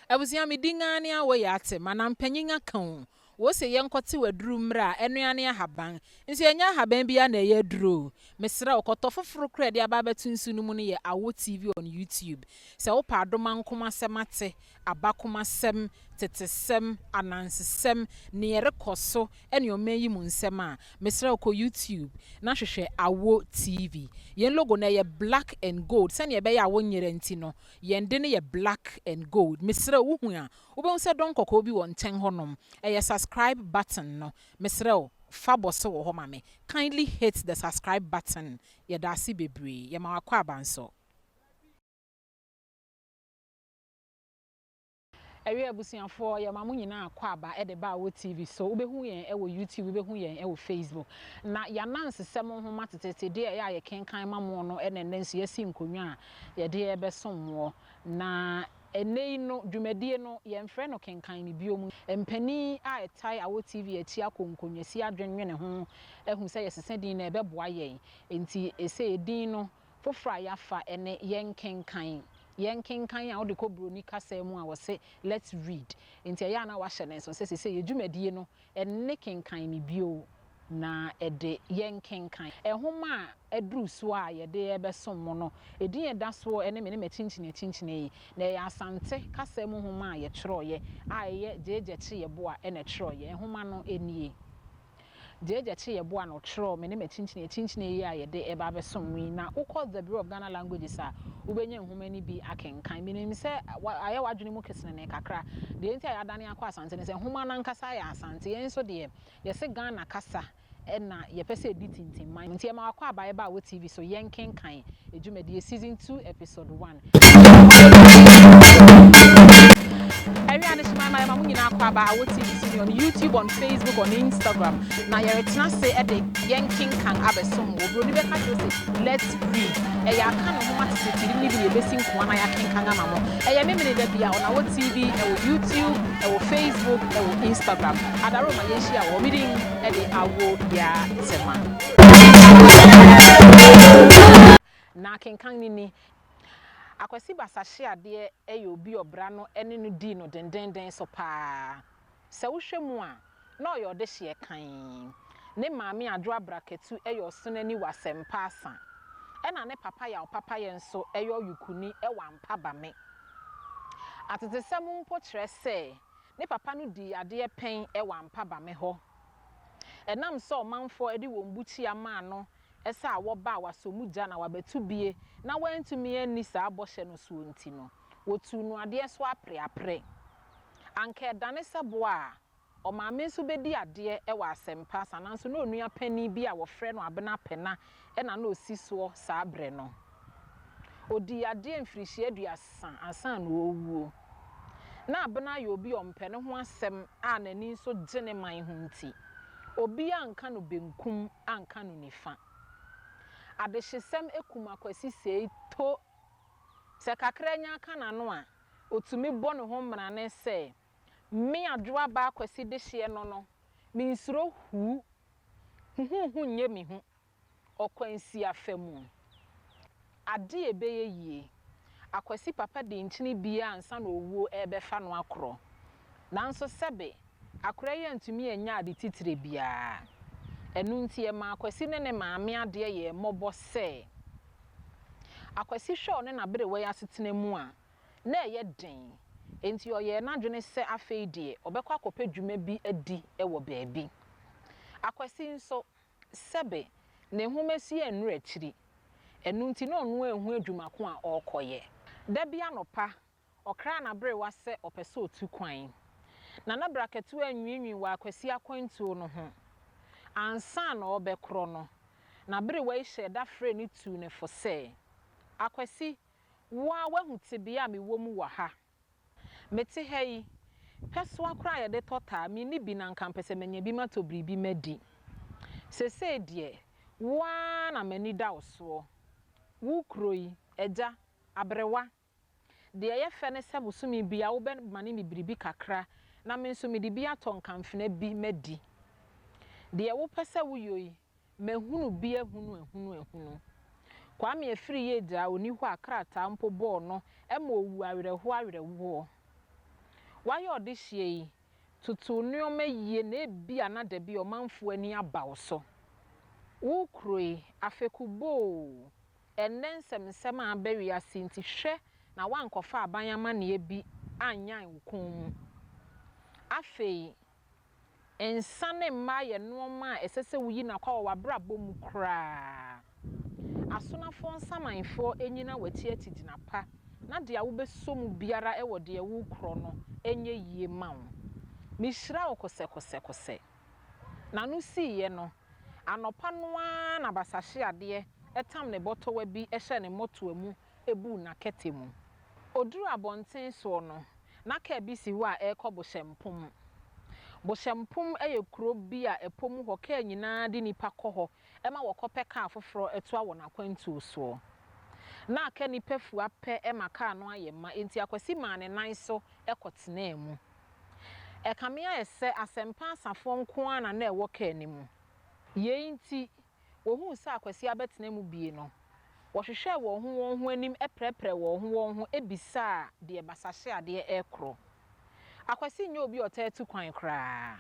Abusua me din aa ne awo ya te ma nam panyin aka oo wo se yɛ nkɔ tew aduru mmrɛ a ɛno aa ne ahaban nso ɛnyɛ ahaban biaa na ɛyɛ aduro oo me srɛ wo kɔtɔ foforo koro a ɛde aba abɛto nsu no mu no yɛ awo TV on YouTube sɛ wo pɛ adomankoma asɛm ate aba koma sɛm tete sɛm ananse sɛm nea ɛrekɔ so ɛne ɔman yi mu nsɛm a me srɛ wo kɔ YouTube na hwehwɛ awo TV yɛn logo no ɛyɛ black and gold sɛnea ɛbɛyɛ a wo nyera nti no Yɛn de no yɛ black and gold. Mesrɛ wo, wohu a, wobɛhu sɛ dɔn kɔkɔɔ bi wɔ nkyɛn hɔnom. Ɛyɛ subscribe button no. Mesrɛ wo, fa bɔso wɔ hɔ ma me. Kindly hit the subscribe button. Yɛda ase bebree. Yɛma w'akwaaba nso. Awiei abusuafoɔ yɛma mo nyinaa kɔ aba de ba wɔ TV so, wobɛhu yɛn wɔ YouTube, wobɛhu yɛn wɔ Facebook. Na y'anansesɛm nhoma teteete deɛ ɛyɛ a yɛkenkan ma mo no na ɛnnɛ nso y'asi nkonnwa a yɛde rebɛsom moɔ. Na ɛnnɛ yi no dwumadie no yɛnfrɛ no kenkan me biom. Mpanin a ɛtae awɔ TV akyi akɔ nkonwa si adwennwene ho ahu sɛ yɛsesa din no ɛbɛboa yɛn. Enti ɛsei din no Foforɔ a yɛafa ne yɛnkenkan. Yɛnkenkan a wode kɔ buroni kasa mu a wɔse let's read. Nti ɛyɛ a na woahyɛ no nso sɛ seisei yɛ dwumadie no nne kenkan me bio na ɛde yɛnkenkan. Nwoma a aduru so a yɛde rebɛsom mo no, edin a ɛda so ne Me ne M'akyinkyin Akyinkyin Eyi. Na ɛyɛ Asante kasa mu nwoma a yɛtwerɛeɛ a ɛyɛ Gyegye Kye Yeboa na ɛtwerɛeɛ. Nwoma no nie. Deɛ Agya kye yɛ boa na ɔtwerɛɛ me ne m'akyinkyini akyinkyini yi a yɛde reba abɛsom mo yi na wokɔ The Bureau of Ghana Languages a, wobɛnya nwoma no bi akenkan. Menim sɛ ayɛ w'adwene mu kesenenee kakra. Deɛ enti a yɛadane akɔ Asante ne sɛ nwoma no ankasa yɛ Asante. Yɛn nso deɛ, yɛse Ghana kasa na yɛpɛ sɛ ɛdi tintim ma yɛn. Nti yɛma w'akwaaba yɛba a wɔ TV so, yɛnkenkan dwumadie, Season Two, Episode I. Awia ne hyema ma yɛma mo nyinaa kɔ aba Awɔ TV so ne on YouTube, on Facebook, on Instagram na yɛretena ase de yɛnkenkan abɛsom wo. Buroni bɛka kyerɛ wo se let's read. Ɛyɛ aka ne nhoma tete tiri no bi na yɛbɛsi nkoa na yɛakenkan ama mo. Ɛyɛ Memeneda da biara on Awɔ TV, ɛwɔ YouTube, ɛwɔ Facebook, ɛwɔ Instagram. Adaro ma yɛnhyia wɔ hɔ. Me din de Awɔ Yatsema. Na akenkan no ni. Akwasi Basahye adeɛ yɛ obi ɔbra no ne no dii no dendennden so paa. Sɛ wohwɛ mu a, na ɔyɛ ɔdehyeɛ kann. Ne maame Adwo Abrakatu yɛ ɔsonani wɔ Asɛmpa Asa. Ɛna ne papa Yaw Papayɛ nso yɛ ɔyokuni wɔ Ampa Bame. Atetesɛm mpo kyerɛ sɛ ne papa no dii adeɛ pɛn wɔ Ampa Bame hɔ. Ɛnam sɛ ɔmanfoɔ de wɔn bukyia maa no Ɛsɛ a wɔba a wɔasɔ mu gya na wɔabɛto bie na wɔantumi anni saa bɔhyɛ no soɔ nti no, wɔtuu no adeɛ so apereaperɛ. Anka ɛdane sɛ bo a, ɔmaame nso bɛdi adeɛ wɔ asɛmpa asa nanso na onua panin bi a wɔfrɛ no Abena Pena na na ɔsi soɔ saa berɛ no. Ɔdii yadeɛ mfirihyia aduasa ansa na ɔrewuo. Na Abena yɛ obi a ɔmpɛ ne ho asɛm a n'ani nso gye ne man ho nti, obiara anka no benkum anka no nifa. Adehyesɛm kum Akwasi sei to! Sɛ kakra nya ka n'ano a, ɔtumi bɔ ne ho mmarane sɛ, Me Adwoabaa Akwasi dehyeɛ no no, mensuro hu. Huhuhu nyɛ me hu. Ɔkwansia fa mu. Ade a ɛbɛyɛ yie, Akwasi papa de nkyene biara ansa na owuo rebɛfa no akorɔ. Nanso sɛbe, akorɛ yi antumi anyɛ ade titire biara. Ɛno nti ɛmaa Akwasi ne ne maame adeɛ yɛɛ mmɔbɔ sɛ, Akwasi hwɛ ɔne n'aberewa yi asetena mu a, na ɛyɛ den. Enti ɔyɛɛ n'adwene sɛ afei deɛ ɔbɛkɔ akɔpɛ dwuma bi adi wɔ baabi. Akwasi nso, Sɛbe, ne nhomasua yɛ nnuru akyiri, ɛno nti na ɔno ara nhu adwuma ko a ɔrekɔyɛ. Da bi anɔpa, ɔkraa n'aberewa sɛ ɔpɛ sɛ ɔtu kwan, na na Brakatuo anwiinwii wɔ Akwasi akwantuo no ho. Ansa na ɔrebɛkorɔ no, n'aberewa yi hyɛɛ da frɛɛ no tuu no fo sɛ, Akwasi, wo ara woahu tebea a mewɔ mu wɔ ha. Mete ha yi, pɛsoa koraa a yɛde tɔ taa, menni bi na anka mepɛ sɛ manya bi matɔ biribi madi. Seesei deɛ, wo ara na m'ani da wo soɔ. Wo kuro yi, agya, aberewa. Deɛ ɛyɛ fɛ ne sɛ bosome biara wobɛmane me biribi kakra na me nso mede bi atɔ nkamfena bi madi. Deɛ wopɛ sɛ woyɔ yi, Mahunu bi ahunu ahunu ahunu. Kwame afiri yɛ gyaa ɔni hɔ a krataa mpo bɔɔ no ma ɔwu awerɛhoɔ awerɛhoɔ. Wayɛ ɔdehyeɛ yi, toto wo nnoɔma yie na ebia na dabi ɔmanfoɔ ani aba wo so. Wo kuro yi, afɛku boo! Ɛnnɛ nsɛm nsɛm a aba wiase nti hwɛ na woankɔfa aban amanneɛ bi annyan wo kɔn mu. Afei Nsa ne mmaa yɛ nnoɔma a ɛsɛ sɛ woyi no akɔ wɔ w'abrabɔ mu koraa. Asonafoɔ nsamanfoɔ nnyina w'akyi atigyina pa na deɛ wobɛsɔ mu biara wɔ deɛ worekorɔ no nyɛ yie mma wo. Mehyira wo kosɛkosɛkosɛ. N'ano siiɛ no, anɔpa no ara na basahyeadeɛ tam ne bɔtɔwa bi hyɛɛ ne mmɔtoa mu buu n'akɛtɛ mu. Ɔduruu abɔnten soɔ no, na kaa bi si hɔ a ɛrekɔ Bohyɛmpom. Bohyɛmpom yɛ kuro bi a ɛpɔ mu hɔ kaa nyinaa de nnipa kɔ hɔ ma wɔkɔpɛ kaa foforɔ toa wɔn akwantuo soɔ. Na aka nnipa fua pɛ ma kaa no ayɛ ma enti Akwasi maa ne nan so kɔtenaa mu. Ɛkame ayɛ sɛ Asɛmpa Asafoɔ nko ara na na ɛwɔ kaa no mu. Yei nti, wɔhuu sɛ Akwasi abɛtena mu bie no, wɔhwehwɛɛ wɔn ho wɔn ho anim prɛprɛɛ wɔn ho wɔn ho bisaa deɛ basahyeadeɛ rekorɔ. Akwasi nyɛ obi a ɔtaa tu kwan koraa.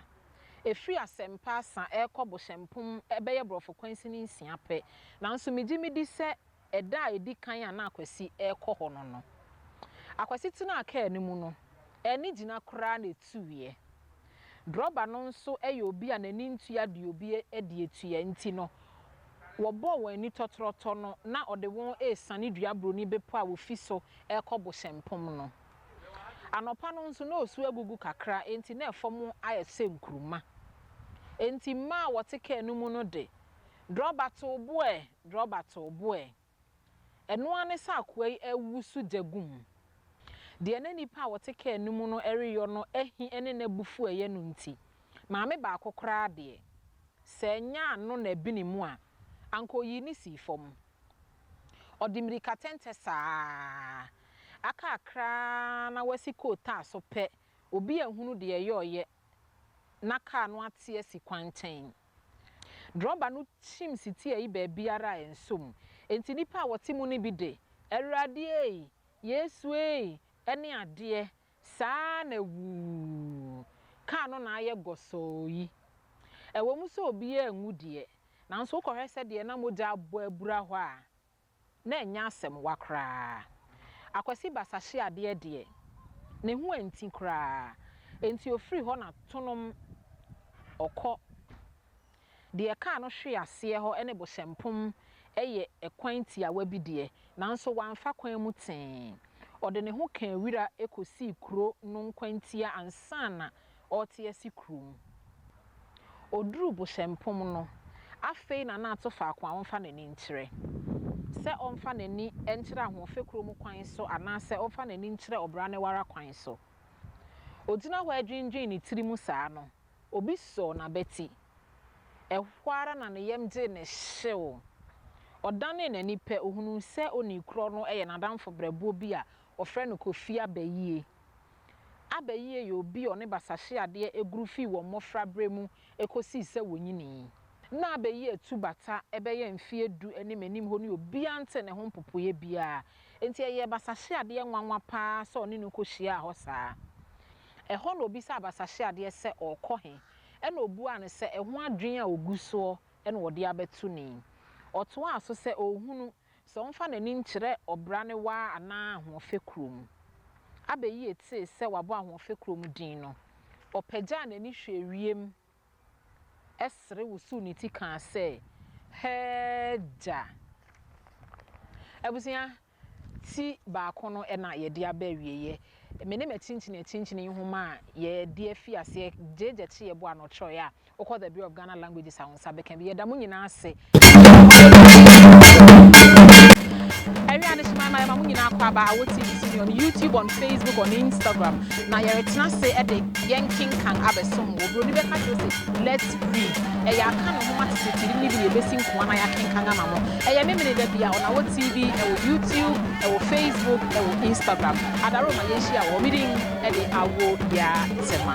Ɛfiri Asɛmpa Asa rekɔ Bohyɛmpom bɛyɛ borɔfo kwansin nsia pɛ, nanso megye medi sɛ Ɛda a edi kan a na Akwasi rekɔ hɔ no no, Akwasi tenaa kaa no mu no, ɛne gyina koraa na etuiɛ. Drɔba no nso yɛ obi a n'ani ntua deɛ obi de atua nti no, wɔbɔɔ wɔn ani tɔtrɔtɔ no na ɔde wɔn resiane Duaburoni Bepɔ a wɔfi so rekɔ Bohyɛmpɔm no. Anɔpa no nso na osu agugu kakra enti na fam ayɛ sɛ nkuruma. Enti mmaa a wɔte kaa no mu no de, Drɔba tow bo ɛ, drɔba tow bo ɛ. Ɛno ara ne sɛ akoa yi awu so gya gu mu. Deɛ na nnipa a wɔte kaa no mu no reyɔ no ahi ne n'abufuo a ɛyɛ no nti, maame baako koraa deɛ, sɛ ɛnyɛ ano na ɛbene mu a, anka ɔyii no sii fam. Ɔde mmirikatɛntɛ saa ara. Aka kakra ara na wasi kootaa so pɛ, obi anhunu deɛ ɛyɔeɛ na kaa no ate asi kwankyɛn. Drɔba no kyim sitiiɛ yi baabiara a ɛnsɔ mu, enti nnipa a wɔte mu no bi de, Awurade ei! Yesu ei! ne adeɛ saa ara na wuu! Kaa no na ayɛ gɔsɔɔ yi. Ɛwɔ mu sɛ obiara anwu deɛ, nanso wokɔhwɛ sɛdeɛ na mogya abɔ abura hɔ a, na ɛnyɛ asɛmwa koraa. Akwasi Basa hye adeɛ deɛ, ne ho anti koraa, enti ɔfiri hɔ na tonom ɔkɔ. Deɛ ɛkaa no hwee aseɛ hɔ ne Bohyɛmpom yɛ ɛkwan tiawa bi deɛ, nanso wamfa kwan mu tee. Ɔde ne ho kaa wira kɔsii kuro no nkwantia ansa na ɔrete asi kurom. Ɔduruu Bohyɛmpɔm no, afei na na ato faako a ɔmfa n'ani nkyerɛ. Sɛ ɔmfa n'ani nkyerɛ ahoɔfɛ kuro mu kwan so anaasɛ ɔmfa n'ani nkyerɛ ɔbra no ara kwan so. Ɔgyina hɔ redwendwene ne tiri mu saa no, obi sɔɔ n'abati. Ɛhɔ ara na ne yam gyee no hyew. Ɔdanee n'ani pɛ, ɔhunuu sɛ onii korɔ no yɛ n'adamfo berɛboɔ bi a wɔfrɛ no Kofi Abayie. Abayie yɛ obi a ɔne basahyeadeɛ aguru firi wɔn mmɔfraberɛ mu kɔsii sɛ wɔnyinii. Ná abayie tu bata bɛyɛ mfeɛ du ne m'anim hɔ ne obiara ntee ne ho mpopoeɛ biara, enti ɛyɛɛ basahyeadeɛ nwanwa pa ara sɛ ɔne no kɔhyiaa hɔ saa. Ɛhɔ na ɔbisaa basahyeadeɛ sɛ ɔrekɔ he, ɛna ɔbuaa no sɛ ɛho adwene a ɔgu soɔ na ɔde abɛto no yi. Ɔtoaa so sɛ ɔrehunu Sɛ ɔmfa n'ani nkyerɛ ɔbra ne waa anaa ahoɔfɛ kuro mu. Abɛyie tee sɛ wabɔ ahoɔfɛ kuro mu din no, ɔpagyaa n'ani hwɛɛ wiem sere wosoo ne ti kaa sɛ, Hɛɛgya! Abusua, ti baako no na yɛde aba awieɛ. me ne m'akyinkyini akyinkyini nhoma a yɛde afi aseɛ gyegye kye yɛbo ano kyerɛeɛ a wokɔ the Bureau of Ghana Languages a wo nsa bɛka bi yɛda mo nyinaa ase ɛwɛ adehyema ma yɛma mo nyinaa kɔ aba awɔ tv so ne on youtube on facebook on instagram na yɛretena ase ɛde yɛnkenkan abɛsom wɔ buroni bɛka kyerɛ sɛ let's read ɛyɛ aka ne nhoma tetetiri ne bi ne yɛbɛsi nkoa na yɛakenkan ama mo ɛyɛ memene da bi a ɔnawɔ tv ɛwɔ youtube Ɛwɔ Facebook ɛwɔ Instagram adaro ma yɛn hyia wɔ hɔ me din ɛde awo yaa tema.